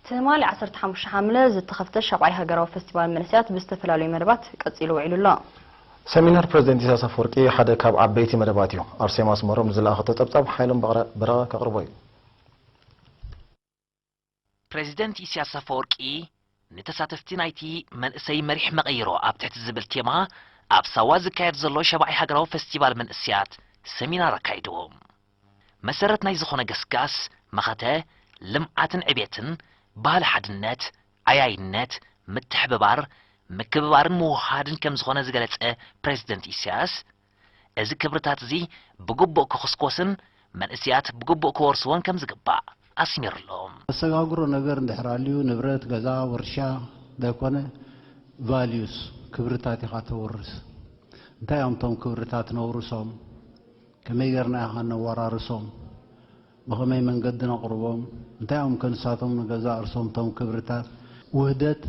ትማሊ ዓሰርተ ሓሙሽተ ሓምለ ዝተኸፍተ ሻብዓይ ሃገራዊ ፈስቲቫል መንእሰያት ብዝተፈላለዩ መደባት ቀጺሉ ውዒሉ ኣሎ። ሰሚናር ፕረዚደንት ኢሳያስ ኣፈወርቂ ሓደ ካብ ዓበይቲ መደባት እዩ። ኣርሴማ ኣስመሮም ንዝለኣኸቶ ጸብጻብ ሓይሎም በረቐ ከቕርቦ እዩ። ፕረዚደንት ኢሳያስ ኣፈወርቂ ንተሳተፍቲ ናይቲ መንእሰይ መሪሕ መቐይሮ ኣብ ትሕቲ ዝብል ቴማ ኣብ ሳዋ ዝካየድ ዘሎ ሸባዓይ ሃገራዊ ፈስቲቫል መንእሰያት ሰሚናር ኣካይዶም። መሰረት ናይ ዝኾነ ገስጋስ መኸተ ልምዓትን ዕቤትን ባህሊ ሓድነት፣ ዓያይነት፣ ምትሕብባር፣ ምክብባርን ምውህሃድን ከምዝኾነ ዝገለፀ ፕረዚደንት ኢሳያስ፣ እዚ ክብርታት'ዚ ብግቡእ ክኹስኮስን መንእሲያት ብግቡእ ክወርስዎን ከም ዝግባእ ኣስሚሩ ኣሎ። ዘሰጋግሮ ነገር እንድሕር ኣልዩ ንብረት፣ ገዛ፣ ውርሻ ዘይኮነ Values፣ ክብርታት፣ ኢኻ ተውርስ። እንታይ እዮም እቶም ክብርታት ነውርሶም? ከመይ ጌርና ኢኻ ነወራርሶም? ብኸመይ መንገዲ ነቕርቦም? እንታይ እዮም ከ ንሳቶም ንገዛእ ርሶም እቶም ክብርታት? ውህደት፣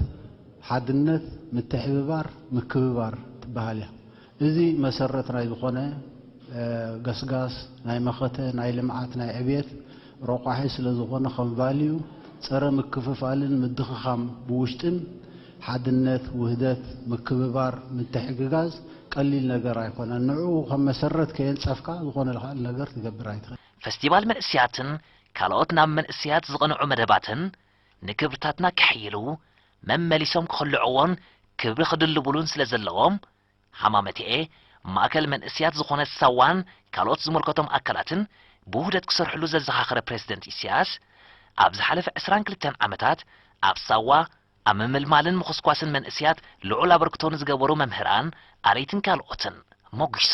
ሓድነት፣ ምትሕብባር፣ ምክብባር ትበሃል እያ። እዚ መሰረት ናይ ዝኾነ ገስጋስ ናይ መኸተ፣ ናይ ልምዓት፣ ናይ ዕብየት ረቋሒ ስለ ዝኾነ ከም ቫልዩ ፀረ ምክፍፋልን ምድኽኻም ብውሽጥን ሓድነት፣ ውህደት፣ ምክብባር፣ ምትሕግጋዝ ቀሊል ነገር ኣይኮነን። ንዕኡ ከም መሰረት ከየንፀፍካ ዝኾነ ካልእ ነገር ትገብር ኣይትኽእልን። ፈስቲቫል መንእሰያትን ካልኦት ናብ መንእሰያት ዝቐንዑ መደባትን ንክብርታትና ከሐይሉ፣ መመሊሶም ክኽልዕዎን ክብሪ ክድልቡሉን ስለ ዘለዎም፣ ሃማመተኤ፣ ማእከል መንእሰያት ዝኾነት ሳዋን ካልኦት ዝምልከቶም ኣካላትን ብውህደት ክሰርሕሉ ዘዘኻኸረ ፕረዚደንት ኢሳያስ፣ ኣብ ዝሓለፈ ዕስራን ክልተን ዓመታት ኣብ ሳዋ፣ ኣብ ምምልማልን ምኹስኳስን መንእሲያት ልዑል ኣበርክቶ ንዝገበሩ መምህራን፣ ኣረይትን ካልኦትን ሞጒሱ።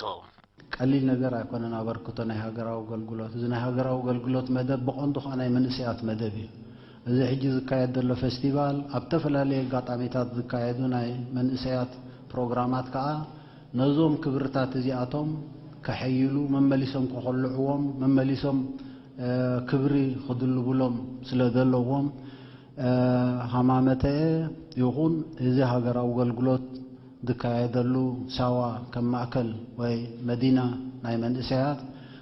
ቀሊል ነገር ኣይኮነን ኣበርክቶ ናይ ሃገራዊ ኣገልግሎት። እዚ ናይ ሃገራዊ ኣገልግሎት መደብ ብቐንዱ ከኣ ናይ መንእሲያት መደብ እዩ። እዚ ሕጂ ዝካየድ ዘሎ ፈስቲቫል ኣብ ተፈላለየ ኣጋጣሚታት ዝካየዱ ናይ መንእሰያት ፕሮግራማት ከኣ ነዞም ክብርታት እዚኣቶም ከሐይሉ፣ መመሊሶም ከኹልዕዎም፣ መመሊሶም ክብሪ ክድልቡሎም ስለዘለዎም፣ ሃማመተኤ ይኹን እዚ ሃገራዊ ኣገልግሎት ዝካየደሉ ሳዋ ከም ማእከል ወይ መዲና ናይ መንእሰያት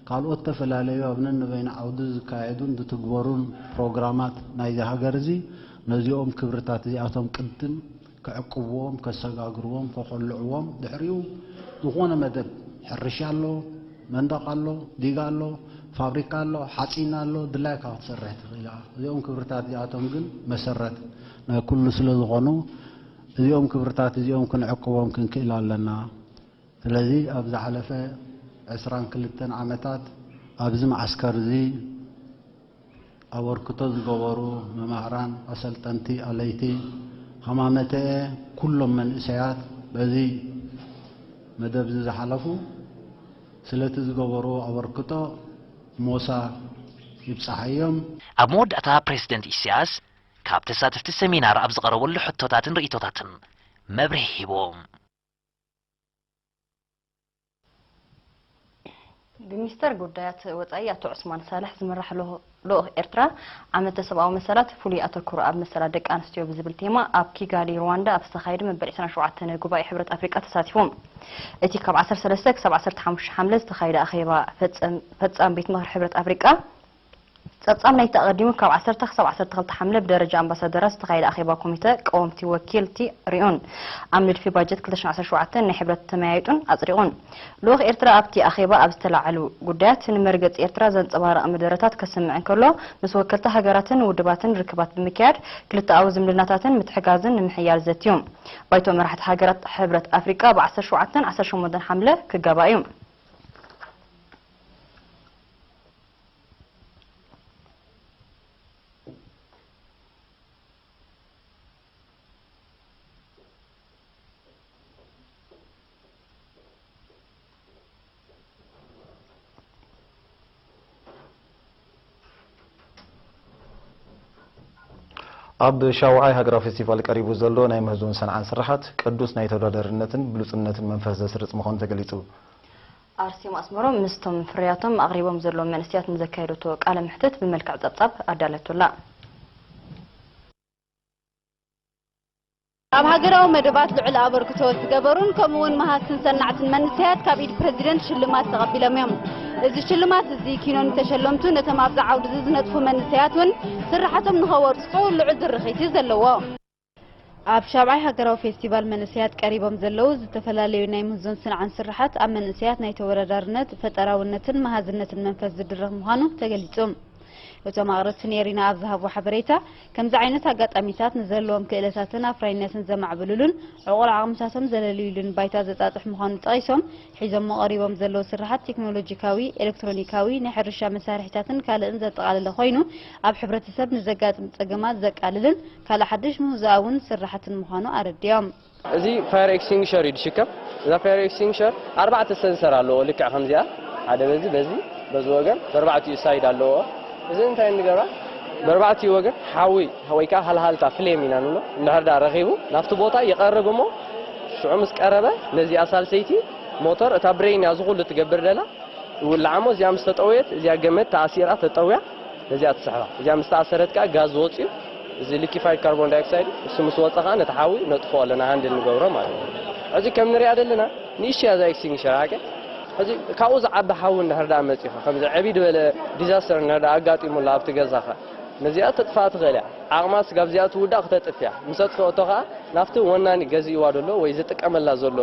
ካልኦት ዝተፈላለዩ ኣብ ነንበይኑ ዓውዲ ዝካየዱን ዝትግበሩን ፕሮግራማት ናይዚ ሃገር እዚ ነዚኦም ክብርታት እዚኣቶም ቅድም ክዕቅብዎም፣ ከሰጋግርዎም፣ ከኾልዕዎም፣ ድሕሪኡ ዝኾነ መደብ ሕርሻ ኣሎ፣ መንደቕ ኣሎ፣ ዲጋ ኣሎ፣ ፋብሪካ ኣሎ፣ ሓጺን ኣሎ፣ ድላይካ ክትሰርሕ ትኽእል ኢኻ። እዚኦም ክብርታት እዚኣቶም ግን መሰረት ናይ ኩሉ ስለ ዝኾኑ እዚኦም ክብርታት እዚኦም ክንዕቅቦም ክንክእል ኣለና። ስለዚ ኣብ ዝሓለፈ ዕስራን ክልተን ዓመታት ኣብዚ መዓስከር እዚ፣ ኣበርክቶ ዝገበሩ መማህራን፣ ኣሰልጠንቲ፣ ኣለይቲ ሃማመተኤ ኩሎም መንእሰያት በዚ መደብዚ ዝሓለፉ ስለቲ ዝገበርዎ ኣበርክቶ ሞሳ ይብጻሓዮም። ኣብ መወዳእታ ፕረሲደንት ኢሳያስ ካብ ተሳተፍቲ ሰሚናር ኣብ ዝቐረበሉ ሕቶታትን ርእይቶታትን መብርሂ ሂቦም። ብሚኒስተር ጉዳያት ወጻኢ ኣቶ ዑስማን ሳልሕ ዝምራሕ ልኡኽ ኤርትራ፣ ዓመተ ሰብኣዊ መሰላት፣ ፍሉይ ኣተኩሮ ኣብ መሰላት ደቂ ኣንስትዮ ብዝብል ቴማ ኣብ ኪጋሊ ሩዋንዳ ኣብ ዝተኻየደ መበል ዕስራን ሸውዓተን ጉባኤ ሕብረት ኣፍሪቃ ተሳቲፉ። እቲ ካብ ዓሰርተ ሰለስተ ክሳብ ዓሰርተ ሓሙሽተ ሓምለ ዝተኻየደ ኣኼባ ፈጻም ቤት ምኽሪ ሕብረት ኣፍሪቃ፣ ጸብጻብ ናይቲ ኣቐዲሙ ካብ ዓሰርተ ክሳብ ዓሰርተ ክልተ ሓምለ ብደረጃ ኣምባሳደራት ዝተኻየደ ኣኼባ ኮሚተ ቀወምቲ ወኪልቲ ሪኡን ኣብ ንድፊ ባጀት ክልተ ሽሕን ዓሰርተ ሸውዓተን ናይ ሕብረት ተመያይጡን ኣጽዲቑን። ልኡኽ ኤርትራ ኣብቲ ኣኼባ ኣብ ዝተላዕሉ ጉዳያት ንመርገጺ ኤርትራ ዘንጸባርቕ መደረታት ከስምዕ እንከሎ ምስ ወከልቲ ሃገራትን ውድባትን ርክባት ብምክያድ ክልተኣዊ ዝምድናታትን ምትሕጋዝን ንምሕያል ዘትዩ። ባይቶ መራሕቲ ሃገራት ሕብረት ኣፍሪቃ ኣብ ዓሰርተ ሸውዓተን ዓሰርተ ሸሞንተን ሓምለ ክጋባእ'ዩ። ኣብ ሻውዓይ ሃገራዊ ፌስቲቫል ቀሪቡ ዘሎ ናይ ምህዞን ሰንዓን ስርሓት ቅዱስ ናይ ተወዳዳርነትን ብሉጽነትን መንፈስ ዘስርጽ ምዃኑ ተገሊጹ። ኣርሴማ ኣስመሮም ምስቶም ፍርያቶም ኣቕሪቦም ዘለዉ መንእሰያት ንዘካየደቶ ቃለ መሕትት ብመልክዕ ጸብጻብ ኣዳልያቶ ኣላ። ኣብ ሃገራዊ መደባት ልዑል ኣበርክቶ ዝገበሩን ከምኡ ውን መሃዝትን ሰናዕትን መንሰያት ካብ ኢድ ፕረዚደንት ሽልማት ተቐቢሎም እዮም። እዚ ሽልማት እዚ ኪኖ ንተሸለምቱ ነቶም ኣብዚ ዓውዲ እዚ ዝነጥፉ መንሰያት ውን ስርሓቶም ንኸወርጽጹ ልዑል ድርኺት እዩ ዘለዎ። ኣብ ሻብዓይ ሃገራዊ ፌስቲቫል መንእሰያት ቀሪቦም ዘለዉ ዝተፈላለዩ ናይ ምህዞን ስንዓን ስርሓት ኣብ መንእሰያት ናይ ተወዳዳርነት፣ ፈጠራውነትን መሃዝነትን መንፈስ ዝድርኽ ምዃኑ ተገሊጹ። እቶም ኣቕረብቲ ንኤሪና ኣብ ዝሃብዎ ሓበሬታ፣ ከምዚ ዓይነት ኣጋጣሚታት ንዘለዎም ክእለታትን ኣፍራይነትን ዘማዕብልሉን ዕቑር ዓቕምታቶም ዘለልዩሉን ባይታ ዘጣጥሕ ምዃኑ ጠቒሶም፣ ሒዞሞ ቀሪቦም ዘለዉ ስርሓት ቴክኖሎጂካዊ፣ ኤለክትሮኒካዊ፣ ናይ ሕርሻ መሳርሒታትን ካልእን ዘጠቓለለ ኮይኑ ኣብ ሕብረተሰብ ንዘጋጥም ጸገማት ዘቃልልን ካልእ ሓድሽ ምህዞኣውን ስራሕትን ምዃኑ ኣረዲኦም። እዚ ፋየር ኤክስቲንግሸር እዩ ዝሽከም። እዛ ፋየር ኤክስቲንግሸር ኣርባዕተ ሰንሰር ኣለዎ ልክዕ ከምዚኣ ሓደ በዚ በዚ በዚ ወገን በርባዕቲኡ ሳይድ ኣለዎ። እዚ እንታይ ንገብራ በርባዕቲኡ ወገን ሓዊ ወይ ከዓ ሃልሃልታ ፍሌም ኢና ንብሎ እንድሕር ድኣ ረኺቡ ናብቲ ቦታ ይቐርብ እሞ ሽዑ ምስ ቀረበ ነዚኣ ሳልሰይቲ ሞተር እታ ብሬን እያ እዚ ኩሉ ትገብር ደላ ይውላዕ እሞ እዚኣ ምስ ተጠወየት እዚኣ ገመድ ተኣሲራ ተጠውያ ነዚኣ ትስሕባ እዚኣ ምስ ተኣሰረት ከኣ ጋዝ ዝወጽእ እዩ እዚ ሊኪፋይድ ካርቦን ዳይኦክሳይድ ንሱ ምስ ወጸ ከኣ ነቲ ሓዊ ነጥፍኦ ኣለና ሃንድል ንገብሮ ማለት እዩ ሕዚ ከም ንሪኣ ዘለና ንእሽተይ እያ እዛ ኤክስቲንግሸር ሓቀይ ሕዚ ካብኡ ዝዓቢ ሓዊ እንድሕር ደኣ መጺኻ ከምዚ ዕብይ ዝበለ ዲዛስተር እንድሕር ደኣ ኣጋጢሙላ ኣብቲ ገዛኻ ነዚኣ ተጥፍኣ ትኽእል እያ ዓቕማ ስጋብ እዚኣ ትውዳእ ክተጥፍ እያ ምስ ኣጥፍኦቶ ከኣ ናብቲ ወናኒ ገዚእዋ ዘሎ ወይ ዝጥቀመላ ዘሎ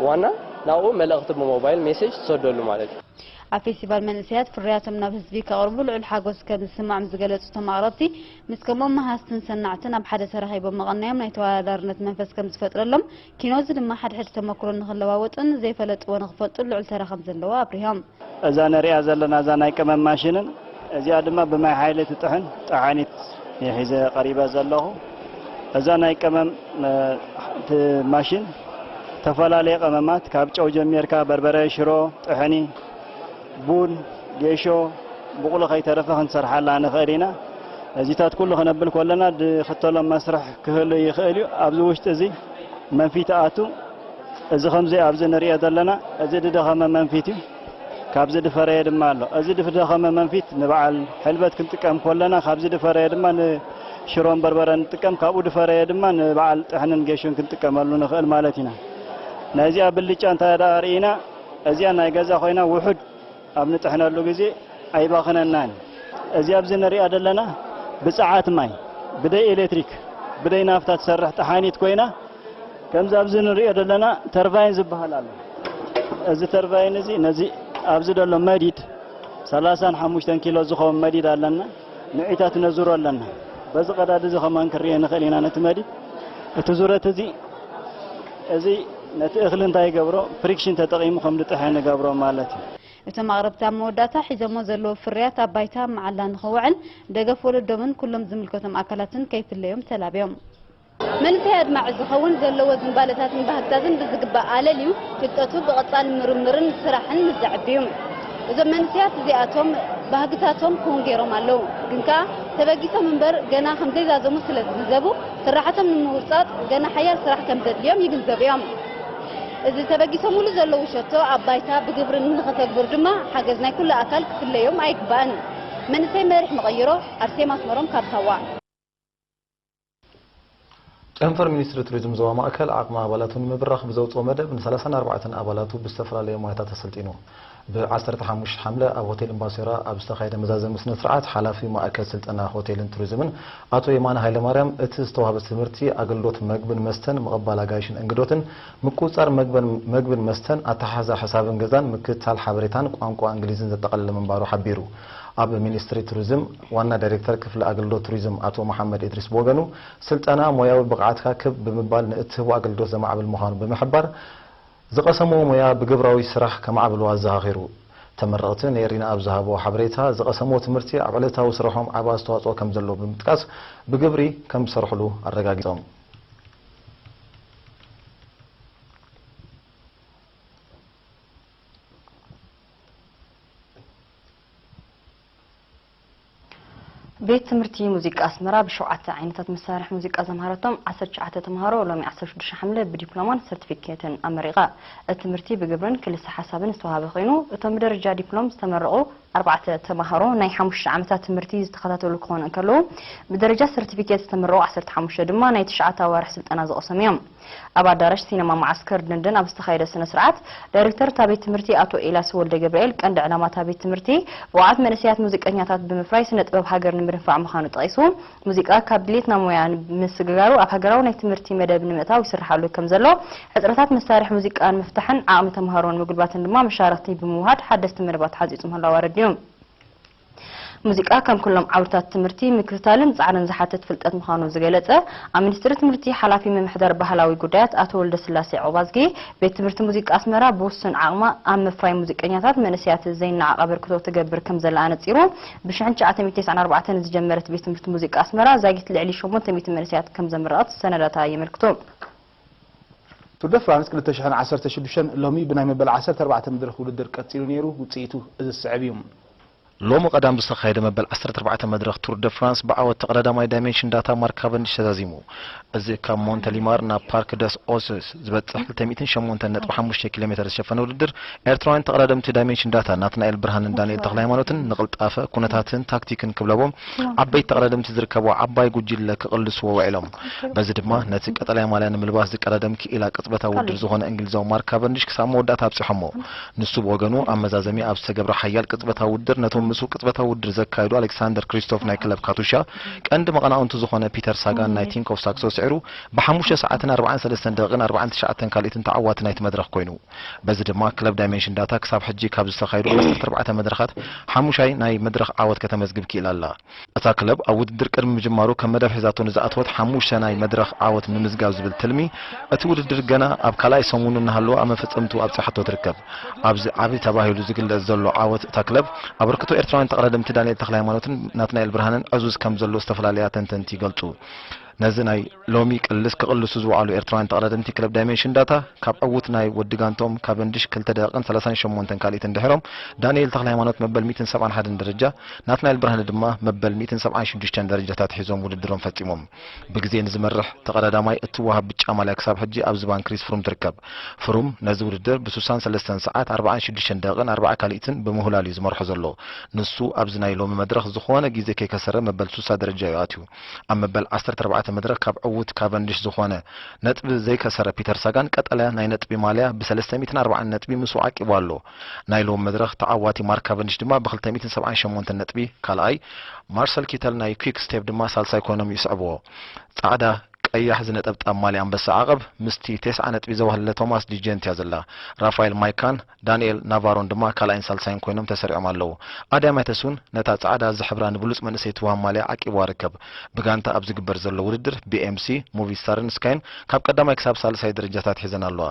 ዋና ናብኡ መልእኽቲ ብሞባይል ሜሴጅ ትሰደሉ ማለት እዩ ኣብ ፌስቲቫል መንእሰያት ፍርያቶም ናብ ህዝቢ ከቕርቡ ልዑል ሓጎስ ከም ዝስምዖም ዝገለጹ እቶም ኣቕረብቲ፣ ምስ ከምኦም መሃዝትን ሰናዕትን ኣብ ሓደ ተራኺቦም ምቕናዮም ናይ ተወዳዳርነት መንፈስ ከም ዝፈጥረሎም፣ ኪኖ'ዚ ድማ ሓድሕድ ተመኩሮ ንኽለዋወጡን ዘይፈለጥዎ ንኽፈልጡን ልዑል ተራ ከም ዘለዎ ኣብሪሆም። እዛ ንርእያ ዘለና እዛ ናይ ቀመም ማሽንን እዚኣ ድማ ብማይ ሃይለ ትጥሕን ጠሓኒት እየ ሒዘ ቀሪበ ዘለኹ። እዛ ናይ ቀመም ማሽን ተፈላለየ ቀመማት ካብ ጨው ጀሚርካ በርበረ፣ ሽሮ፣ ጥሕኒ፣ ቡን፣ ጌሾ፣ ብቑሊ ከይተረፈ ክንሰርሓላ ንኽእል ኢና። እዚታት ኩሉ ክነብል ኮለና ድኽተሎም መስርሕ ክህሉ ይኽእል እዩ። ኣብዚ ውሽጢ እዚ መንፊት ኣቱ እዚ ከምዚ ኣብዚ ንርእዮ ዘለና እዚ ድደኸመ መንፊት እዩ። ካብ ዝድፈረየ ድማ ኣሎ። እዚ ድፍደኸመ መንፊት ንበዓል ሕልበት ክንጥቀም ኮለና ካብ ዝድፈረየ ድማ ንሽሮን በርበረን ንጥቀም ካብኡ ድፈረየ ድማ ንበዓል ጥሕንን ጌሾን ክንጥቀመሉ ንኽእል ማለት ኢና። ናይ እዚኣ ብልጫ እንታይ ደኣ ርኢና እዚኣ ናይ ገዛ ኮይና ውሑድ ኣብ ንጥሕነሉ ግዜ ኣይባኽነናን። እዚ ኣብዚ ንሪኣ ዘለና ብጸዓት ማይ ብደይ ኤሌትሪክ ብደይ ናፍታ ትሰርሕ ጠሓኒት ኮይና፣ ከምዚ ኣብዚ ንርእዮ ዘለና ተርቫይን ዝበሃል ኣሎ። እዚ ተርቫይን እዚ ነዚ ኣብዚ ዘሎ መዲድ ሰላሳን ሓሙሽተን ኪሎ ዝኸውን መዲድ ኣለና። ንዒታት ነዙሮ ኣለና። በዚ ቀዳድ እዚ ከማን ክንርእዮ ንኽእል ኢና ነቲ መዲድ። እቲ ዙረት እዚ እዚ ነቲ እኽሊ እንታይ ይገብሮ ፍሪክሽን ተጠቒሙ ከም ዝጥሕን ይገብሮ ማለት እዩ። እቶም ኣቕረብቲ ኣብ መወዳእታ ሒዞሞ ዘለዉ ፍርያት ኣብ ባይታ ኣብ መዓላ ንኽውዕል ደገፍ ወለዶምን ኩሎም ዝምልከቶም ኣካላትን ከይፍለዮም ተላብዮም። መንፈይ ኣድማዒ ዝኸውን ዘለዎ ዝንባለታትን ባህግታትን ብዝግባእ ኣለልዩ ፍልጠቱ ብቐጻሊ ምርምርን ስራሕን ምስ ዘዕብዩ። እዞም መንእሰያት እዚኣቶም ባህግታቶም ክዉን ገይሮም ኣለዉ። ግን ከኣ ተበጊሶም እምበር ገና ከም ዘይዛዘሙ ስለ ዝግንዘቡ ስርሓቶም ንምውጻጽ ገና ሓያል ስራሕ ከም ዘድልዮም ይግንዘቡ እዮም። እዚ ተበጊሶምሉ ዘለዉ ሸቶ ኣብ ባይታ ብግብሪ ንኸተግብሩ ድማ ሓገዝ ናይ ኩሉ ኣካል ክፍለዮም ኣይግባእን። መንእሰይ መሪሕ መቐይሮ፣ ኣርሴማ ኣስመሮም ካብ ሳዋ። ጨንፈር ሚኒስትሪ ቱሪዝም ዞባ ማእከል ዓቕሚ ኣባላቱ ንምብራኽ ብዘውጽኦ መደብ ን ሰላሳን ኣርባዕተን ኣባላቱ ብዝተፈላለየ ሞያታት ኣሰልጢኑ። ብ ዓሰርተ ሓሙሽተ ሓምለ ኣብ ሆቴል እምባሶይራ ኣብ ዝተኻየደ መዛዘሚ ስነስርዓት ሓላፊ ማእከል ስልጠና ሆቴልን ቱሪዝምን ኣቶ የማነ ሃይለማርያም እቲ ዝተዋህበ ትምህርቲ ኣገልግሎት መግብን መስተን ምቕባል ኣጋይሽን እንግዶትን ምቁጽጻር መግብን መስተን፣ ኣተሓሕዛ ሕሳብን ገዛን፣ ምክትታል ሓበሬታን ቋንቋ እንግሊዝን ዘጠቓለለ ምንባሩ ሓቢሩ። ኣብ ሚኒስትሪ ቱሪዝም ዋና ዳይሬክተር ክፍሊ ኣገልግሎት ቱሪዝም ኣቶ መሓመድ ኢድሪስ ብወገኑ፣ ስልጠና ሞያዊ ብቕዓትካ ክብ ብምባል ንእትህቦ ኣገልግሎት ዘማዕብል ምዃኑ ብምሕባር፣ ዝቐሰምዎ ሞያ ብግብራዊ ስራሕ ከማዕብልዎ ኣዘኻኺሩ። ተመረቕቲ ንኤሪና ኣብ ዝሃብዎ ሓበሬታ፣ ዝቐሰምዎ ትምህርቲ ኣብ ዕለታዊ ስርሖም ዓቢ ኣስተዋጽኦ ከምዘለዎ ብምጥቃስ፣ ብግብሪ ከምዝሰርሕሉ ኣረጋጊጾም። ቤት ትምህርቲ ሙዚቃ ኣስመራ ብሸውዓተ ዓይነታት መሳርሒ ሙዚቃ ዘምሃረቶም ዓሰርተ ትሽዓተ ተምሃሮ ሎሚ ዓሰርተ ሽዱሽተ ሓምለ ብዲፕሎማን ሰርቲፊኬትን ኣመሪቓ። እቲ ትምህርቲ ብግብርን ክልሰ ሓሳብን ዝተውሃበ ኮይኑ እቶም ብደረጃ ዲፕሎም ዝተመረቑ፣ ኣርባዕተ ተማሃሮ ናይ ሓሙሽተ ዓመታት ትምህርቲ ዝተኸታተሉ ክኾኑ እንከለዉ፣ ብደረጃ ሰርቲፊኬት ዝተመረቑ ዓሰርተ ሓሙሽተ ድማ ናይ ትሽዓተ ኣዋርሕ ስልጠና ዝቐሰሙ እዮም። ኣብ ኣዳራሽ ሲነማ መዓስከር ደንደን ኣብ ዝተኻየደ ስነ-ስርዓት፣ ዳይሬክተር እታ ቤት ትምህርቲ ኣቶ ኤልያስ ወልደገብርኤል፣ ቀንዲ ዕላማ እታ ቤት ትምህርቲ ብቑዓት መንእሰያት ሙዚቀኛታት ብምፍራይ ስነ-ጥበብ ሃገር ንምድንፋዕ ምዃኑ ጠቒሱ፣ ሙዚቃ ካብ ድሌትና ሞያ ንምስግጋሩ ኣብ ሃገራዊ ናይ ትምህርቲ መደብ ንምእታው ይስርሓሉ ከም ዘሎ፣ ሕጽረታት መሳርሒ ሙዚቃ ንምፍታሕን ዓቕሚ ተመሃሮ ንምጉልባትን ድማ መሻርኽቲ ብምውሃድ ሓደስቲ መደባት ሓንጺጹ ምህላዉ ኣረዲኡ። ሙዚቃ ከም ኩሎም ዓውድታት ትምህርቲ ምክትታልን ጻዕርን ዝሓትት ፍልጠት ምዃኑ ዝገለጸ ኣብ ሚኒስትሪ ትምህርቲ ሓላፊ ምምሕዳር ባህላዊ ጉዳያት ኣቶ ወልደስላሴ ዑቕባዝጊ፣ ቤት ትምህርቲ ሙዚቃ ኣስመራ ብውሱን ዓቕማ ኣብ ምፍራይ ሙዚቀኛታት መንእሰያት ዘይነዓቕ ኣበርክቶ ትገብር ከም ዘላ ኣነጺሩ። ብሽሕን ትሽዓተ ሚእትን ተስዓን ኣርባዕተን ዝጀመረት ቤት ትምህርቲ ሙዚቃ ኣስመራ ዛጊት ልዕሊ ሸሞንተ ሚእቲ መንእሰያት ከም ዘምረቐት ሰነዳታ የመልክቱ። ቱር ደ ፍራንስ ክልተ ሽሕን ዓሰርተ ሽዱሽተን ሎሚ ብናይ መበል ዓሰርተ ኣርባዕተ መድረኽ ውድድር ቀጺሉ ነይሩ፣ ውጽኢቱ እዚ ዝስዕብ እዩ። ሎሚ ቀዳም ዝተኻየደ መበል ዓሰርተ ኣርባዕተ መድረኽ ቱር ደ ፍራንስ ብዓወት ተቐዳዳማይ ዳይመንሽን ዳታ ማርክ ካቨንዲሽ ተዛዚሙ። እዚ ካብ ሞንተሊማር ናብ ፓርክ ደስ ኦስስ ዝበጽሕ ክልተ ሚእትን ሸሞንተን ነጥቢ ሓሙሽተ ኪሎሜተር ዝሸፈነ ውድድር፣ ኤርትራውያን ተቐዳደምቲ ዳይሜንሽን ዳታ ናትናኤል ብርሃንን ዳንኤል ተኽለሃይማኖትን ንቕልጣፈ፣ ኩነታትን ታክቲክን ክብለቦም ዓበይቲ ተቐዳደምቲ ዝርከብዋ ዓባይ ጉጅለ ክቕልስዎ ውዒሎም። በዚ ድማ ነቲ ቀጠልያ ማልያ ንምልባስ ዝቀዳደም ክኢላ ቅጽበታዊ ውድድር ዝኾነ እንግሊዛዊ ማርክ ካቨንዲሽ ክሳብ መወዳእታ ኣብጺሖሞ። ንሱ ብወገኑ ኣብ መዛዘሚ ኣብ ዝተገብረ ሓያል ቅጽበታዊ ውድድር ነቶም ምስኡ ቅጽበታዊ ውድድር ዘካየዱ ኣሌክሳንደር ክሪስቶፍ ናይ ክለብ ካቱሻ ቀንዲ መቐናቕንቱ ዝኾነ ፒተር ሳጋን ናይ ቲንክ ኦፍ ሳክሶ ስዒሩ ብሓሙሽተ ሰዓትን ኣርባዓን ሰለስተን ደቒቕን ኣርባዓን ትሽዓተን ካልኢትን ተዓዋቲ ናይቲ መድረኽ ኮይኑ። በዚ ድማ ክለብ ዳይመንሽን ዳታ ክሳብ ሕጂ ካብ ዝተኻየዱ ዓሰርተ ኣርባዕተ መድረኻት ሓሙሻይ ናይ መድረኽ ዓወት ከተመዝግብ ክኢላ ኣላ። እታ ክለብ ኣብ ውድድር ቅድሚ ምጅማሩ ከም መደብ ሒዛቶ ንዝኣተወት ሓሙሽተ ናይ መድረኽ ዓወት ምምዝጋብ ዝብል ትልሚ፣ እቲ ውድድር ገና ኣብ ካልኣይ ሰሙኑ እናሃለወ ኣብ መፈጸምትኡ ኣብጺሓቶ ትርከብ። ኣብዚ ዓቢ ተባሂሉ ዝግለጽ ዘሎ ዓወት እታ ክለብ፣ ኣበርክቶ ኤርትራውያን ተቐዳደምቲ ዳንኤል ተኽለሃይማኖትን ናትናኤል ብርሃነን ዕዙዝ ከምዘሎ ዝተፈላለያ ተንተንቲ ይገልጹ። ነዚ ናይ ሎሚ ቅልስ ክቕልሱ ዝወዓሉ ኤርትራውያን ተቐዳደምቲ ክለብ ዳይመንሽን ዳታ፣ ካብ ዕዉት ናይ ወዲ ጋንትኦም ካቨንድሽ ክልተ ደቂቕን ሰላሳን ሸሞንተን ካልኢትን ድሒሮም፣ ዳንኤል ተኽለሃይማኖት መበል ሚእትን ሰብዓን ሓደን ደረጃ፣ ናትናኤል ብርሃነ ድማ መበል ሚእትን ሰብዓን ሽዱሽተን ደረጃታት ሒዞም ውድድሮም ፈጺሞም። ብግዜ ንዝመርሕ ተቐዳዳማይ እትወሃብ ብጫ ማልያ ክሳብ ሕጂ ኣብ ዝባን ክሪስ ፍሩም ትርከብ። ፍሩም ነዚ ውድድር ብሱሳን ሰለስተን ሰዓት ኣርባዓን ሽዱሽተን ደቂቕን ኣርባዓ ካሊኢትን ብምሁላል እዩ ዝመርሖ ዘሎ። ንሱ ኣብዚ ናይ ሎሚ መድረኽ ዝኾነ ግዜ ከይከሰረ መበል ሱሳ ደረጃ እዩ ኣትዩ። ኣብ መበል ዓሰርተ ኣርባዕተ መድረኽ ካብ ዕዉት ካቨንድሽ ዝኾነ ነጥቢ ዘይከሰረ ፒተር ሳጋን ቀጠልያ ናይ ነጥቢ ማልያ ብሰለስተ ሚእትን ኣርባዓን ነጥቢ ምስኡ ዓቂቡ ኣሎ። ናይ ሎሚ መድረኽ ተዓዋቲ ማርክ ካቨንዲሽ ድማ ብክልተ ሚእትን ሰብዓን ሸሞንተን ነጥቢ ካልኣይ፣ ማርሰል ኪተል ናይ ኲክ ስቴፕ ድማ ሳልሳይ ኰይኖም ይስዕብዎ። ጻዕዳ፣ ቀያሕ ዝነጠብጣብ ማልያ ኣንበሳ ዓቐብ ምስቲ ቴስዓ ነጥቢ ዘዋህለለ ቶማስ ዲ ጀንት እያ ዘላ። ራፋኤል ማይካን ዳንኤል ናቫሮን ድማ ካልኣይን ሳልሳይን ኰይኖም ተሰሪዖም ኣለዉ። ኣድያም ኣይተስውን ነታ ጻዕዳ ዝሕብራ ንብሉጽ መንእሰይ ትወሃብ ማልያ ዓቂብዋ ይርከብ። ብጋንታ ኣብ ዝግበር ዘሎ ውድድር፣ ቢኤምሲ፣ ሞቪስታርን ስካይን ካብ ቀዳማይ ክሳብ ሳልሳይ ደረጃታት ሒዘን ኣለዋ።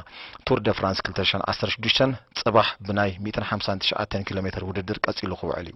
ቱር ደ ፍራንስ ክልተ ሽሕን ዓሰርተ ሽዱሽተን ጽባሕ ብናይ ሚእትን ሓምሳን ትሽዓተን ኪሎሜተር ውድድር ቀጺሉ ክውዕል እዩ።